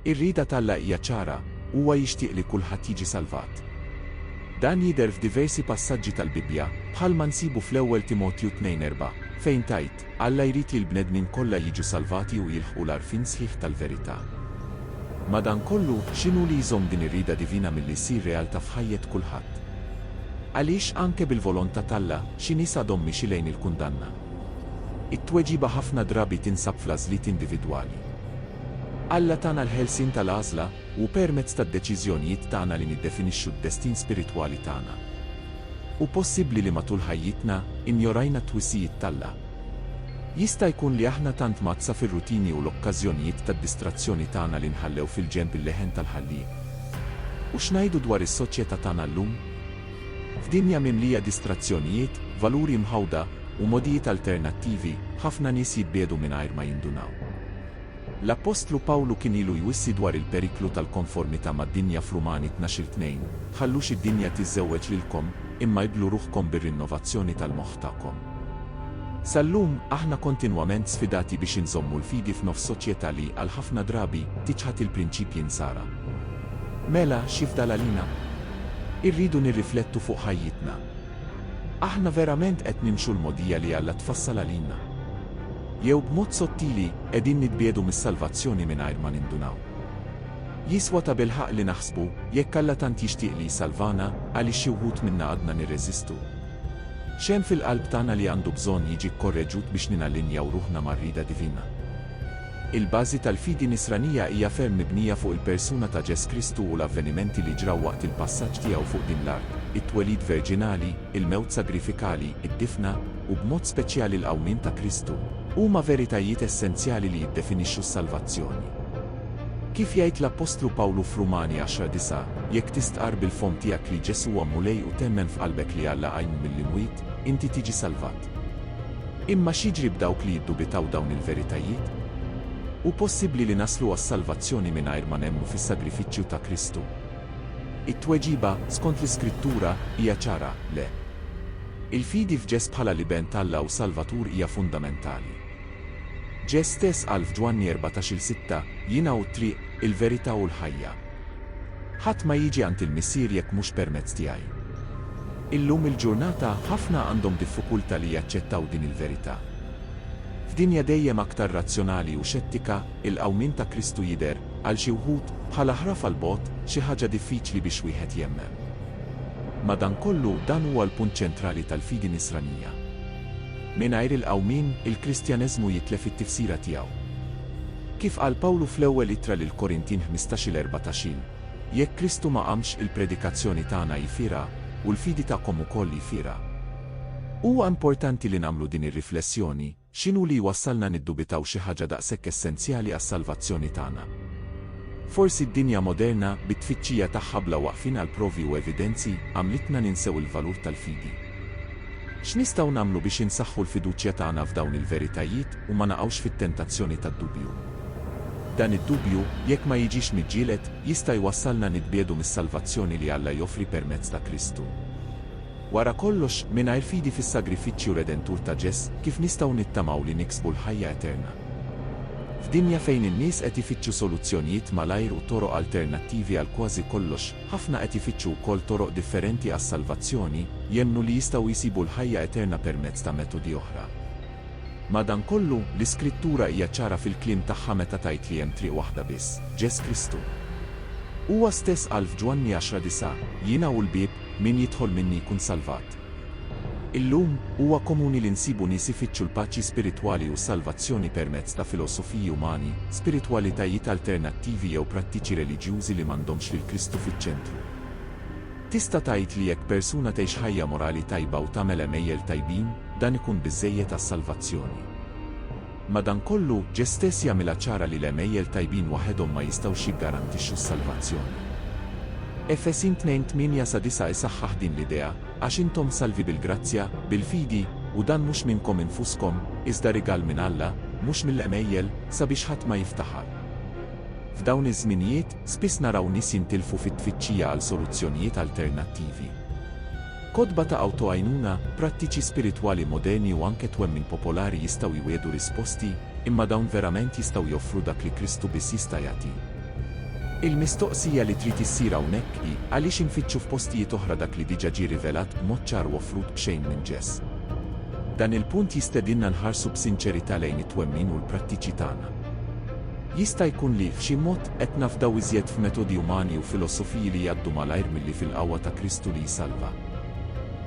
Ir-rieda t'Alla hija ċara, huwa jixtieq li kulħadd jiġi salvat. Dan jidher f'diversi passaġġi tal-Bibbja, bħalma nsibu fl-Ewwel Timotju tnejn erbgħa, fejn tgħid, Alla jrid li l-bnedmin kollha jiġu salvati u jilħqu l-għarfien sħiħ tal-verità. Madankollu, x'inhu li jżomm din ir-rieda divina milli ssir realtà f'ħajjet kulħadd? Għaliex, anke bil-volontà t'Alla, xi nies għadhom miexi lejn il-kundanna? It-tweġiba ħafna drabi tinsab fl-għażliet individwali. Alla tana l-ħelsien tal-għażla, u hu permezz tad-deċiżjonijiet tagħna li niddefinixxu d-destin spiritwali tagħna. Hu possibbli li matul ħajjitna, injorajna t-twissijiet t'Alla. Jista' jkun li aħna tant mgħaddsa fir-rutini u l-okkażjonijiet tad-distrazzjoni tagħna li nħallew fil-ġenb il-leħen tal-Ħallieq. U x'ngħidu dwar is-soċjetà tagħna llum? F'dinja mimlija distrazzjonijiet, valuri mħawda, u mogħdijiet alternattivi, ħafna nies jitbiegħdu mingħajr ma jindunaw. L-appostlu Pawlu kien ilu jwissi dwar il-periklu tal-konformità mad-dinja f'Rumani tnax-il tnejn, Tħallux id-dinja tiżżewweġ lilkom, imma ibblu ruħkom bir-rinnovazzjoni tal-moħħ tagħkom. Sal-lum, aħna kontinwament sfidati biex inżommu l-fidi f'nofs soċjetà li, għal ħafna drabi, tiċħad il-prinċipji Nsara. Mela, x'jifdal għalina? Irridu nirriflettu fuq ħajjitna. Aħna verament qed nimxu l-mogħdija li Alla tfassal għalina? Jew b'mod sottili, qegħdin nitbiegħdu mis-salvazzjoni mingħajr ma nindunaw? Jiswa tabilħaqq li naħsbu, Jekk Alla tant jixtieq li jsalvana, għaliex xi wħud minna għadna nirreżistu? X'hemm fil-qalb tagħna li għandu bżonn jiġi kkorreġut biex ninallinjaw ruħna mar-rieda divina? Il-bażi tal-fidi Nisranija hija ferm mibnija fuq il-persuna ta' Ġes Kristu u l-avvenimenti li ġraw waqt il-passaġġ tiegħu fuq din l-art, it-twelid verġinali, il-mewt sagrifikali, id-difna, u b'mod speċjali l-qawmien ta' Kristu, huma veritajiet essenzjali li jiddefinixxu s-salvazzjoni. Kif jgħid l-appostlu Pawlu f'Rumani 10, 9, Jekk tistqarr bil-fomm tiegħek li Ġesù huwa Mulej u temmen f'qalbek li Alla qajmu mill-imwiet, inti tiġi salvat. Imma x'jiġri b'dawk li jiddubitaw dawn il-veritajiet? Hu possibbli li naslu għas-salvazzjoni mingħajr ma nemmnu fis-sagrifiċċju ta' Kristu? It-tweġiba, skont l-Iskrittura, hija ċara, le. Il-fidi f'Ġes bħala l-Iben t'Alla u Salvatur hija fundamentali. Ġes stess qal f'Ġwanni erbatax-il sitta, Jiena hu t-triq, il-verità u l-ħajja. Ħadd ma jiġi għand il-Missier jekk mhux permezz tiegħi. Illum il-ġurnata, ħafna għandhom diffukulta li jaċċettaw din il-verità. F'dinja dejjem aktar razzjonali u xettika, il-qawmien ta' Kristu jidher, għal xi wħud, bħala ħrafa 'l bogħod, xi ħaġa diffiċli biex wieħed jemmen. Madankollu, dan huwa l-punt ċentrali tal-fidi Nisranija. Mingħajr il-qawmien, il-Kristjaneżmu jitlef it-tifsira tiegħu. Kif qal Pawlu fl-Ewwel Ittra lill-Korintin ħmistax-il erbatax-il, Jekk Kristu ma qamx, il-predikazzjoni tagħna hi fiergħa, u l-fidi tagħkom ukoll hi fiergħa. Huwa importanti li nagħmlu din ir-riflessjoni, X'inhu li jwassalna niddubitaw xi ħaġa daqshekk essenzjali għas-salvazzjoni tagħna? Forsi d-dinja moderna, bit-tfittxija tagħha bla waqfien għal provi u evidenzi, għamlitna ninsew il-valur tal-fidi. X'nistgħu nagħmlu biex insaħħu l-fiduċja tagħna f'dawn il-veritajiet u ma naqgħux fit-tentazzjoni tad-dubju? Dan id-dubju, jekk ma jiġix miġġieled, jista' jwassalna nitbiegħdu mis-salvazzjoni li Alla joffri permezz ta' Kristu. Wara kollox, mingħajr fidi fis-sagrifiċċju redentur ta' Ġes, kif nistgħu nittamaw li niksbu l-ħajja eterna? F'dinja fejn in-nies qed ifittxu soluzzjonijiet malajr u toroq alternattivi għal kważi kollox, Ħafna qed ifittxu wkoll toroq differenti għas-salvazzjoni, jemmnu li jistgħu jsibu l-ħajja eterna permezz ta' metodi oħra. Madankollu, l-Iskrittura hija ċara fil-kliem tagħha meta tgħid li hemm triq waħda biss, Ġes Kristu. Huwa stess qal f'Ġwanni 10, 9, Jiena hu l-bieb, min jidħol minni jkun salvat. Illum, huwa komuni li nsibu nies ifittxu l-paċi spiritwali u s-salvazzjoni permezz ta' filosofiji umani, spiritwalitajiet alternattivi jew prattiċi reliġjużi li m'għandhomx lil Kristu fiċ-ċentru. Tista' tgħid li jekk persuna tgħix ħajja morali tajba u tagħmel għemejjel tajbin, dan ikun biżżejjed għas-salvazzjoni? Madankollu, Ġe stess jagħmilha ċara li l-għemejjel tajbin waħedhom ma jistgħux jiggarantixxu s-salvazzjoni. Efesin 2, 8-9 isaħħaħ din l-idea, Għax intom salvi bil-grazzja, bil-fidi, u dan mhux minnkom infuskom, iżda rigal minn Alla, mhux mill-għemejjel, sabiex ħadd ma jiftaħar. F'dawn iż-żminijiet, spiss naraw nies jintilfu fit-tfittxija għal soluzzjonijiet alternattivi. Kotba ta' awtogħajnuna, prattiċi spiritwali moderni u anke twemmin popolari jistgħu jwiegħdu risposti, imma dawn verament jistgħu joffru dak li Kristu biss jista' jagħti? Il-mistoqsija li trid issir hawnhekk hi, għaliex infittxu f'postijiet oħra dak li diġà ġie rivelat b'mod ċar u offrut b'xejn minn ġess? Dan il-punt jistedinna nħarsu b'sinċerità lejn it-twemmin u l-prattiċi tagħna. Jista' jkun li, f'xi mod, Qed nafdaw iżjed f'metodi umani u filosofiji li jgħaddu malajr milli fil-qawwa ta' Kristu li jsalva.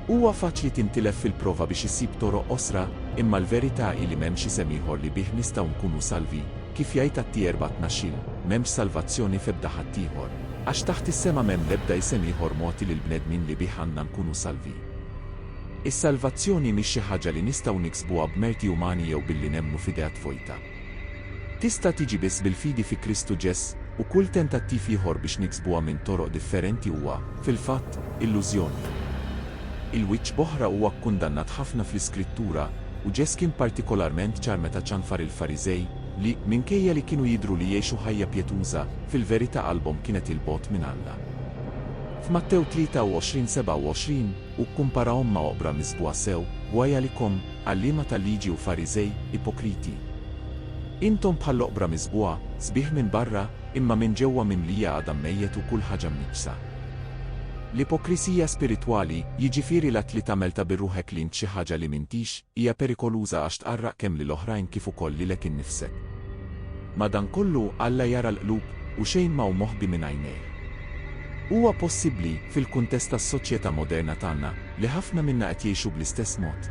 Huwa faċli tintilef fil-prova biex issib toroq qosra, imma l-verità hi li m'hemmx isem ieħor li bih nistgħu nkunu salvi, kif jgħid Atti 4 tnax-il, M'hemmx salvazzjoni f'ebda ħaddieħor, għax taħt is-sema m'hemm l-ebda isem ieħor mogħti lill-bnedmin li bih għandna nkunu salvi. Is-salvazzjoni mhix xi ħaġa li nistgħu niksbuha b'merti umani jew billi nemmnu f'idea tvojta. Tista' tiġi biss bil-fidi fi Kristu Ġesu', u kull tentattiv ieħor biex niksbuha minn toroq differenti huwa, fil-fatt, illużjoni. Il-wiċċ b'oħra huwa kkundannat ħafna fl-Iskrittura, u Ġesu' kien partikolarment ċar meta ċanfar il-Fariżej, li, minkejja li kienu jidhru li jgħixu ħajja pjetuża, fil-verità qalbhom kienet 'il bogħod minn Alla. F'Mattew 23:27, u kkumparahom ma' oqbra misbugħa sew, Wajalikom, għalliema tal-Liġi u Fariżej, ipokriti! Intom bħall-oqbra misbugħa, sbieħ minn barra, imma minn ġewwa mimlija għadam mejjet u kull ħaġa mniġġsa. L-ipokrisija spiritwali, jiġifieri l-att li tagħmel ta' bir-ruħek li int xi ħaġa li m'intix, Hija perikoluża għax tqarraq kemm lil oħrajn kif ukoll lilek innifsek. Madankollu, Alla jara l-qlub, u xejn ma hu moħbi minn għajnejh. Huwa possibbli, fil-kuntest tas-soċjetà moderna tagħna, li ħafna minna qed jgħixu bl-istess mod?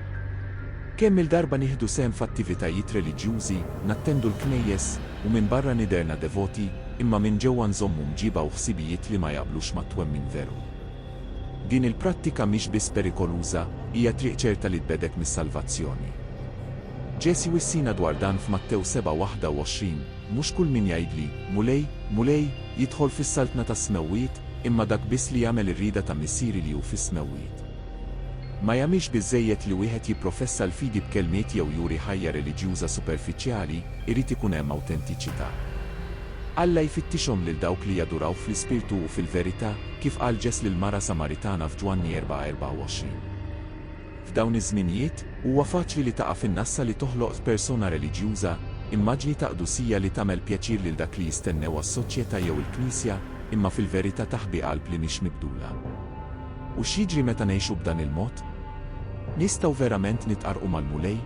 Kemm-il darba nieħdu sehem f'attivitajiet reliġjużi, nattendu l-knejjes, u minbarra nidherna devoti, imma minn ġewwa nżommu mġiba u ħsibijiet li ma jaqblux mat-twemmin veru? Din il-prattika mhix biss perikoluża, hija triq ċerta li tbegħdek mis-salvazzjoni. Ġesù jwissina dwar dan f'Mattew 7:21, Mhux kull min jgħidli, 'Mulej, Mulej, jidħol fis-saltna tas-smewwiet, imma dak biss li jagħmel ir-rieda ta' Missieri li hu fis-smewwiet. Ma jagħmilx biżżejjed li wieħed jipprofessa l-fidi b'kelmiet jew juri ħajja reliġjuża superfiċjali, irid ikun hemm awtentiċità. Alla jfittixhom lil dawk li jaduraw fl-ispirtu u fil-verità. kif qal Ġeż lill-mara Samaritana f'Ġwanni 4:24. F'dawn iż-żminijiet, huwa faċli li taqa' fin-nassa li toħloq f'persona reliġjuża, immaġni ta' qdusija li tagħmel pjaċir lil dak li jistennewha s-soċjetà jew il-Knisja, imma fil-verità taħbi qalb li mhix mibdula. U x'jiġri meta ngħixu b'dan il-mod? Nistgħu verament nitqarrqu mal-Mulej?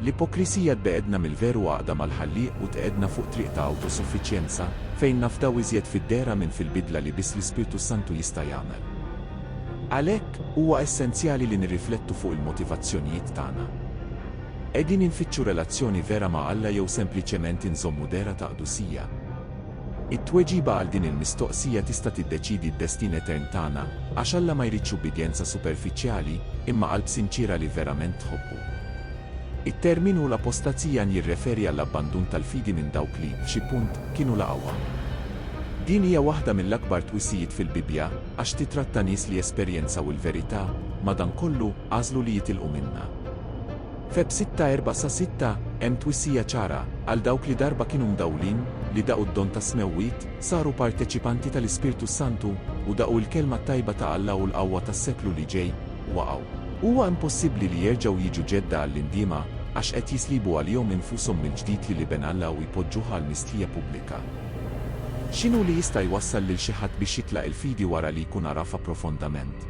L-ipokrisija tbeegħedna mill-veru għaqda mal-Ħallieq u tqegħedna fuq triq ta' awtosuffiċjenza, fejn nafdaw iżjed fid-dehra minn fil-bidla li biss l-Ispirtu s-Santu jista' jagħmel. Għalhekk, huwa essenzjali li nirriflettu fuq il-motivazzjonijiet tagħna. Qegħdin infittxu relazzjoni vera ma' Alla jew sempliċement inżommu dehra ta' qdusija? It-tweġiba għal din il-mistoqsija tista' tiddeċiedi d-destin etern tagħna, għax Alla ma jridx ubbidjenza superfiċjali, imma qalb sinċiera li verament tħobbu. It-terminu l-apostazija njirreferi għall-abbandun tal-fidi minn dawk li, f'xi punt, kienu laqgħuha. Din hija waħda mill-akbar twisijiet fil-Bibbja, għax titratta nies li esperjenzaw il-verità, madankollu, għażlu li jitilqu minnha. Feb 6, 4 sa 6, Hemm twissija ċara, għal dawk li darba kienu mdawwlin, li daqu d-don tas-smewwiet, saru parteċipanti tal-Ispirtu s-Santu, u daqu l-kelma t-tajba ta' Alla u l-qawwa tas-seklu li ġej, waqgħu. Huwa impossibbli li jerġgħu jiġu ġedda għall-indiema, għax qed jislibu għalihom infushom mill-ġdid lil Iben Alla u jpoġġuh għal mistħija pubblika. X'inhu li jista' jwassal lil xi ħadd biex jitlaq il-fidi wara li jkun għarafha profondament?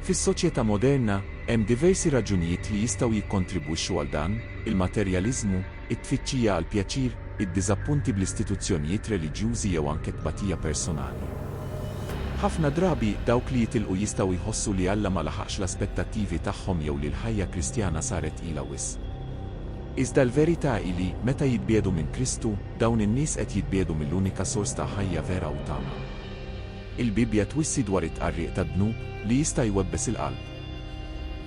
Fis-soċjetà moderna, hemm diversi raġunijiet li jistgħu jikkontribwixxu għal dan, il-materjaliżmu, it-tfittxija għall-pjaċir, id-diżappunti bl-istituzzjonijiet reliġjużi jew anke t-tbatija personali. Ħafna drabi, dawk li jitilqu jistgħu jħossu li Alla ma laħaqx l-aspettattivi tagħhom jew li l-ħajja Kristjana saret tqila wisq. Iżda l-verità hi li, meta jitbiegħdu minn Kristu, dawn in-nies qed jitbiegħdu mill-unika sors ta' ħajja vera u tama. Il-Bibbja twissi dwar it-tqarriq tad-dnub li jista' jwebbes il-qalb.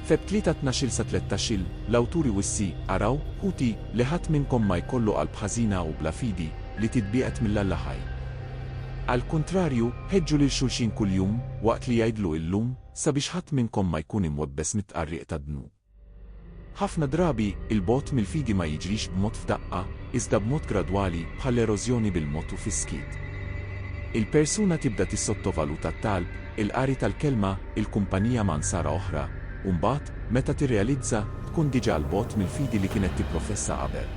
Feb. 3, Tnax-il-sa-tlettax-il, l-awtur iwissi, Araw, ħuti, li ħadd minnkom ma jkollu qalb ħażina u bla fidi, li titbiegħed mill-Alla ħaj. Għall-kuntrarju, ħeġġu lil xulxin kuljum, waqt li jgħidlu illum, sabiex ħadd minnkom ma jkun imwebbes mit-tqarriq tad-dnub. Ħafna drabi, il-bogħod mill-fidi ma jiġrix b'mod f'daqqa, iżda b'mod gradwali, bħall-erożjoni bil-mod u fis-skiet. Il-persuna tibda tissottovaluta t-talb, il-qari tal-kelma, il-kumpanija ma' Nsara oħra, u mbagħad, meta tirrealizza, tkun diġà 'l bogħod mill-fidi li kienet tipprofessa qabel.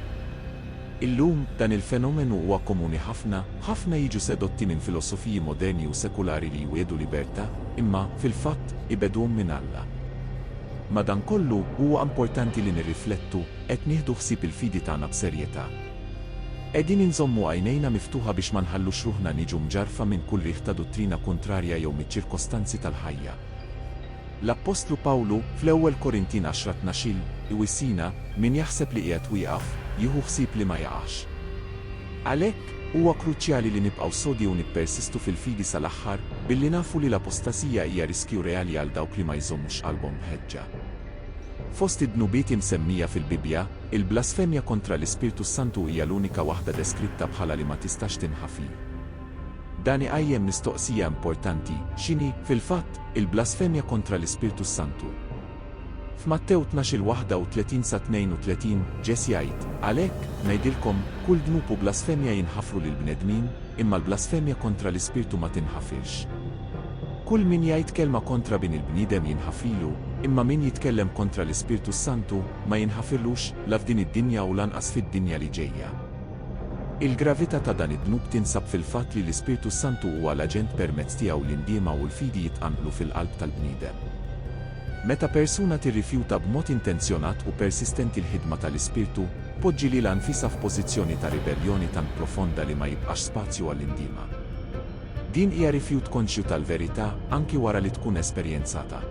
Illum, dan il-fenomenu huwa komuni ħafna, ħafna jiġu sedotti minn filosofiji moderni u sekulari li jwiegħdu libertà, imma, fil-fatt, ibegħduhom minn Alla. Madankollu, huwa importanti li nirriflettu, qed nieħdu ħsieb il-fidi tagħna b'serjetà? Qegħdin inżommu għajnejna miftuħa biex ma nħallux ruħna niġu mġarrfa minn kull riħ ta' duttrina kuntrarja jew miċ-ċirkostanzi tal-ħajja? L-appostlu Pawlu, fl-Ewwel Korintin 10, 12, iwissina, Min jaħseb li qiegħed wieqaf, jieħu ħsieb li ma jaqax. Għalhekk, Huwa kruċjali li nibqgħu sodi u nippersistu fil-fidi sal-aħħar, billi nafu li l-apostasija hija riskju reali għal dawk li ma jżommux qalbhom mħeġġa. Fost id-dnubiet imsemmija fil-Bibbja, il-blasfemja kontra l-Ispirtu s-Santu hija l-unika waħda deskritta bħala li ma tistax tinħafi. Dan iqajjem mistoqsija importanti, x'inhi, fil-fatt, il-blasfemja kontra l-Ispirtu s-Santu? F'Mattew tnax-il 31 sa 32, Ġess jgħid, Għalhekk, ngħidilkom, kull dnub u blasfemja jinħafru lill-bnedmin, imma l-blasfemja kontra l-Ispirtu ma tinħafirx. Kull min jgħid kelma kontra Bin il-bniedem jinħafrilu, imma min jitkellem kontra l-Ispirtu s-Santu, ma jinħafirlux, la f'din id-dinja u lanqas fid-dinja li ġejja. Il-gravità ta' dan id-dnub tinsab fil-fatt li l-Ispirtu s-Santu huwa l-aġent permezz tiegħu li n-ndiema u l-fidi jitqanqlu fil-qalb tal-bniedem. Meta persuna tirrifjuta b'mod intenzjonat u persistenti l-ħidma ta' l-Ispirtu, tpoġġi lilha nfisha f'pożizzjoni ta' ribelljoni tant profonda li ma jibqax spazju għall-indiema. Din hija rifjut konxju tal-verità, anki wara li tkun esperjenzatha.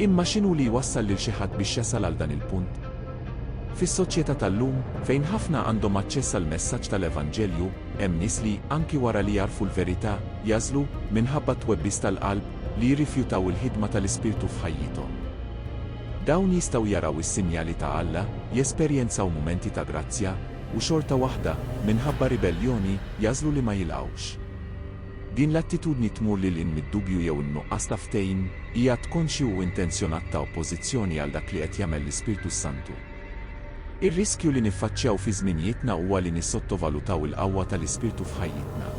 Imma x'inhu li jwassal lil xi ħadd biex jasal għal dan il-punt? Fis-soċjetà tal-lum, fejn ħafna għandhom aċċess għall-messaġġ ta' l-Evanġelju, Hemm nies li, anki wara li jagħrfu l-verità, jagħżlu, minħabba t-twebbis tal-qalb, li jirrifjutaw il-ħidma tal-Ispirtu f'ħajjithom. Dawn jistgħu jaraw is-sinjali ta' Alla, jesperjenzaw mumenti ta' grazzja, u xorta waħda, minħabba ribelljoni, jagħżlu li ma jilqgħux. Din l-attitudni tmur lil hinn mid-dubju jew in-nuqqas ta' ftehim, hija att konxju u intenzjonat ta' oppożizzjoni għal dak li qed jagħmel l-Ispirtu s-Santu. Ir-riskju li niffaċċjaw fi żminijietna huwa li nissottovalutaw il-qawwa tal-Ispirtu f'ħajjitna.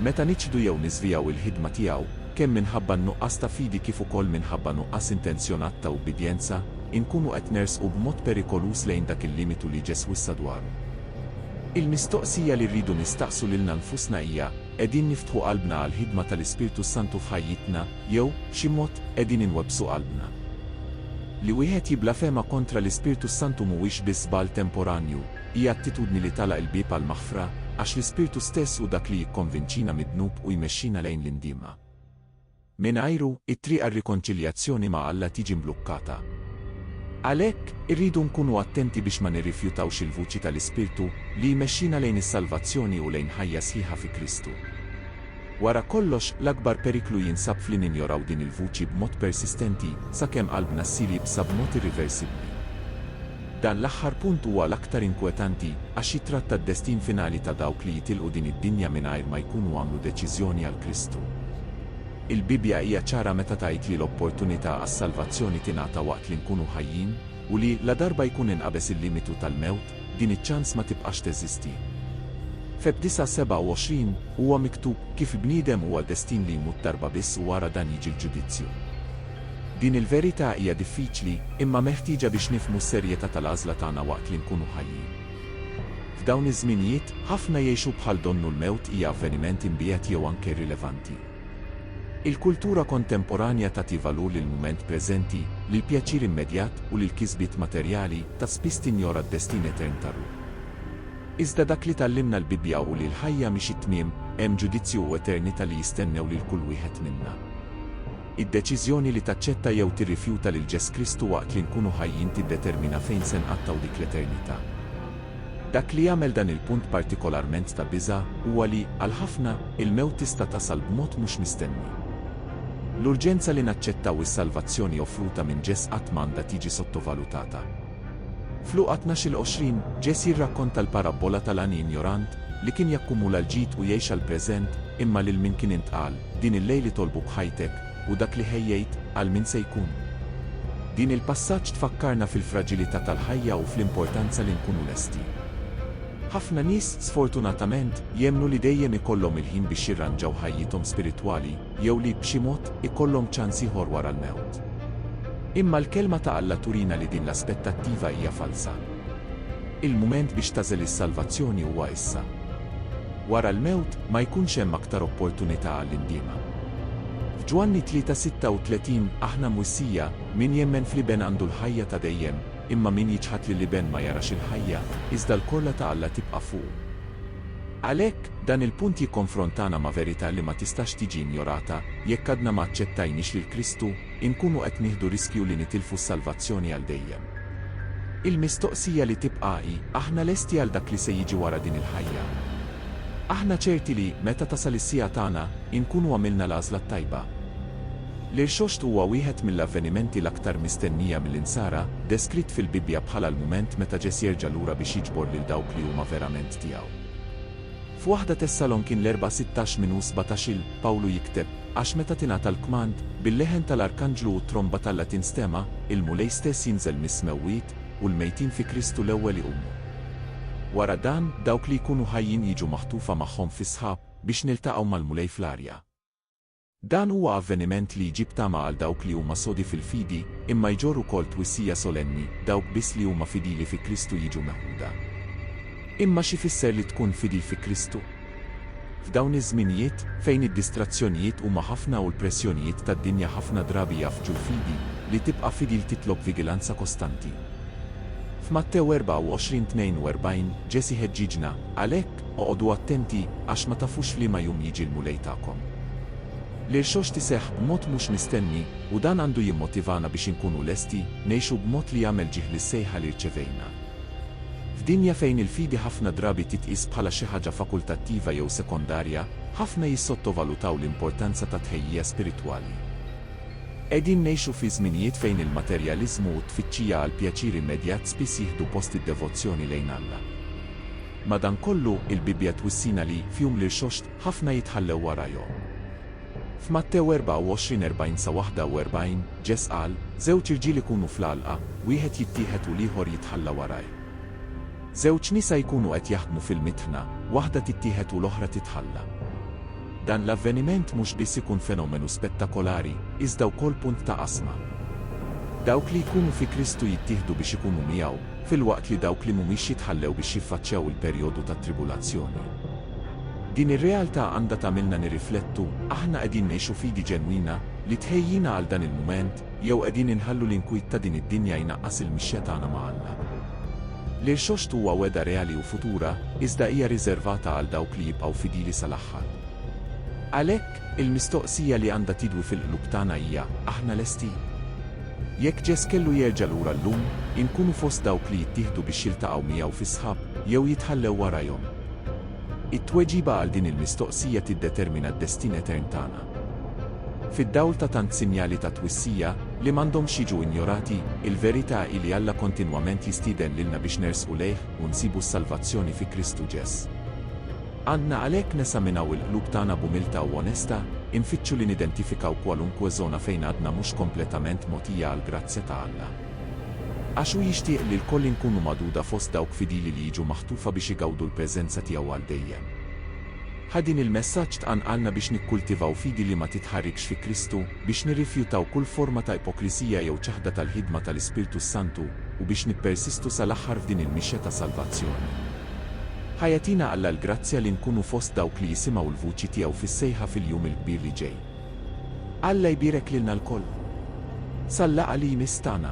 Meta niċħdu jew niżvijaw il-ħidma tiegħu, kemm minħabba n-nuqqas ta' fidi kif ukoll minħabba nuqqas intenzjonat ta' ubbidjenza, inkunu qed nersqu b'mod perikoluż lejn dak il-limitu li Ġesù wissa dwaru. Il-mistoqsija li rridu nistaqsu lilna nfusna hija, Qegħdin niftħu qalbna għall-ħidma tal-Ispirtu s-Santu f'ħajjitna, jew, b'xi mod, qegħdin inwebbsu qalbna? Li wieħed jibblafema kontra l-Ispirtu s-Santu mhuwiex biss żball temporanju, hija attitudni li tagħlaq il-bieb għall-maħfra, għax l-Ispirtu stess hu dak li jikkonvinċina mid-dnub u jmexxina lejn l-indiema. Mingħajru, it-triq għar-rikonċiljazzjoni ma' Alla tiġi mblukkata. Għalhekk, irridu nkunu attenti biex ma nirrifjutawx il-vuċi tal-Ispirtu, li jmexxina lejn is-salvazzjoni u lejn ħajja sħiħa fi Kristu. Wara kollox, l-akbar periklu jinsab f'li ninjoraw din il-vuċi b'mod persistenti, sakemm qalbna ssir jibsa b'mod irriversibbli. Dan l-aħħar punt huwa l-aktar inkwetanti, għax jittratta d-destin finali ta' dawk li jitilqu din id-dinja mingħajr ma jkunu għamlu deċiżjoni għal Kristu. Il-Bibbja hija ċara meta tgħid li l-opportunità għas-salvazzjoni tingħata waqt li nkunu ħajjin, u li, ladarba jkun inqabeż il-limitu tal-mewt, din iċ-ċans ma tibqax teżisti. Feb. 9:27 huwa miktub, Kif l-bniedem huwa destin li jmut darba biss u wara dan jiġi l-ġudizzju. Din il-verità hija diffiċli, imma meħtieġa biex nifhmu s-serjetà tal-għażla tagħna waqt li nkunu ħajjin. F'dawn iż-żminijiet, ħafna jgħixu bħal donnu l-mewt hija avveniment imbiegħed jew anke irrilevanti. Il-kultura kontemporanja tagħti valur lill-mument preżenti, lill-pjaċir immedjat u lill-kisbiet materjali, ta' spiss tinjora d-destin etern tar-ruħ. Iżda dak li tgħallimna l-Bibbja hu li l-ħajja mhix it-tmiem, hemm ġudizzju u eternità li jistennew lil kull wieħed minna. Id-deċiżjoni li taċċetta jew tirrifjuta lil Ġes Kristu waqt li nkunu ħajjin tiddetermina fejn se nqattgħu dik l-eternità. Dak li jagħmel dan il-punt partikolarment ta' biża' huwa li, għal ħafna, il-mewt tista' tasal b'mod mhux mistenni. L-urġenza li naċċettaw is-salvazzjoni offruta minn Ġes qatt m'għandha tiġi sottovalutata. F'Luqa tnax-il 20, Ġes jirrakkonta l-parabbola tal-għani injorant, li kien jakkumula l-ġid u jgħix għall-preżent, imma lil min kien intqal, Din il-lejl itolbu b'ħajtek, u dak li ħejjejt għal min se jkun hu. Din il-passaġġ tfakkarna fil-fraġilità tal-ħajja u fl-importanza li nkunu lesti. Ħafna nies, sfortunatament, jemmnu li dejjem ikollhom il-ħin biex jirranġaw ħajjithom spiritwali jew li, b'xi mod, ikollhom ċans ieħor wara l-mewt. Imma l-Kelma ta' Alla turina li din l-aspettattiva hija falza. Il-mument biex tagħżel is-salvazzjoni huwa issa. Wara l-mewt ma jkunx hemm aktar opportunità għall-indiema. F'Ġwanni 3:36 aħna mwissija, Min jemmen fl-Iben għandu l-ħajja ta' dejjem, imma min jiċħad lill-Iben ma jarax il-ħajja, iżda l-korla ta' Alla tibqa' fuqu. Għalhekk, dan il-punt jikkonfrontana ma' verità li ma tistax tiġi injorata, jekk għadna ma aċċettajniex lil Kristu, inkunu qed nieħdu riskju li nitilfu s-salvazzjoni għal dejjem. Il-mistoqsija li tibqa' hi, aħna lesti għal dak li se jiġi wara din il-ħajja? Aħna ċerti li, meta tasal is-siegħa tagħna, inkunu għamilna l-għażla t-tajba? L-Irxoxt huwa wieħed mill-avvenimenti l-aktar mistennija mill-Insara, deskritt fil-Bibbja bħala l-mument meta Ġesù jerġa' lura biex jiġbor lil dawk li huma verament tiegħu. F'waħda Tessalonkin l-Erbgħa 16 minn u 17 il, Pawlu jikteb, Għax meta tingħata l-kmand, bil-leħen tal-arkanġlu u t-tromba tal-la tinstema', il-Mulej stess jinżel mis-smewwiet, u l-mejtin fi Kristu l-ewwel iqumu. Wara dan, dawk li jkunu ħajjin jiġu maħtufa magħhom fis-sħab, biex niltaqgħu mal-Mulej fl-arja. Dan huwa avveniment li jġib tama għal dawk li huma sodi fil-fidi, imma jġorr ukoll twissija solenni, dawk biss li huma fidili fi Kristu jiġu meħuda. Imma x'ifisser li tkun fidil fi Kristu? F'dawn iż-żminijiet, fejn id-distrazzjonijiet huma ħafna u l-pressjonijiet tad-dinja ħafna drabi jgħaffġu l-fidi, li tibqa' fidil titlob vigilanza kostanti. F'Mattew 24:42, Ġesì ħeġġiġna, għalhekk, Oqogħdu attenti, għax ma tafux f'liema jum jiġi l-Mulej tagħkom. L-Irxoxt iseħħ b'mod mhux mistenni, u dan għandu jimmotivana biex inkunu lesti ngħixu b'mod li jagħmel ġieħ lis-sejħa li rċevejna. F'dinja fejn il-fidi ħafna drabi titqies bħala xi ħaġa fakultattiva jew sekondarja, ħafna jissottovalutaw l-importanza tat-tħejjija spiritwali. Qegħdin ngħixu fi żminijiet fejn il-materjaliżmu u t-tfittxija għall-pjaċir immedjat spiss jieħdu post id-devozzjoni lejn Alla. Madankollu, il-Bibbja twissina li, f'jum l-irxoxt, ħafna jitħallew warajhom. F'Mattew 24, 40-41, Ġes qal, Żewġ irġiel ikunu fl-għalqa, wieħed jittieħed u l-ieħor jitħalla warajh. Żewġ nisa jkunu qed jaħdmu fil-mitħna, waħda tittieħed u l-oħra titħalla. Dan l-avveniment mhux biss ikun fenomenu spettakolari, iżda wkoll punt ta' qasma. Dawk li jkunu fi Kristu jittieħdu biex ikunu miegħu, filwaqt li dawk li mhumiex jitħallew biex jiffaċċjaw il-perjodu tat-tribulazzjoni. Din ir-realtà għandha tagħmilna nirriflettu, aħna qegħdin ngħixu fidi ġenwina li tħejjina għal dan il-mument, jew qegħdin inħallu l-inkwiet ta' din id-dinja jnaqqas il-mixja tagħna ma' Alla? L-irxoxt huwa wegħda reali u futura, iżda hija riżervata għal dawk li jibqgħu fidili sal-aħħar. Għalhekk, Il-mistoqsija li għandha tidwi fil-qlub tagħna hija, aħna lesti? Jekk Ġeż kellu jerġa' lura llum, inkunu fost dawk li jittieħdu biex jiltaqgħu miegħu fis-sħab, jew jitħallew warajhom? It-tweġiba għal din il-mistoqsija tiddetermina d-destin etern tagħna. Fid-dawl ta' tant sinjali ta' twissija, li m'għandhomx jiġu injorati, il-verità hi li Alla kontinwament jistieden lilna biex nersqu lejh u nsibu s-salvazzjoni fi Kristu Ġeż. Għandna għalhekk nesaminaw il-qlub tagħna b'umiltà u onestà, infittxu li nidentifikaw kwalunkwe żona fejn għadna mhux kompletament mogħtija għall-grazzja ta' Alla. Għax hu jixtieq li lkoll inkunu magħduda fost dawk fidili li jiġu maħtufa biex igawdu l-preżenza tiegħu għal dejjem. Ħa din il-messaġġ tqanqalna biex nikkultivaw fidi li ma titħarrikx fi Kristu, biex nirrifjutaw kull forma ta' ipokrisija jew ċaħda tal-ħidma tal-Ispirtu s-Santu, u biex nippersistu sal-aħħar f'din il-mixja ta' salvazzjoni. Ħa jagħtina Alla l-grazzja li nkunu fost dawk li jisimgħu l-vuċi tiegħu fis-sejħa fil-jum il-kbir li ġej. Alla jbierek lilna lkoll. Sal-laqgħa li jmiss tagħna.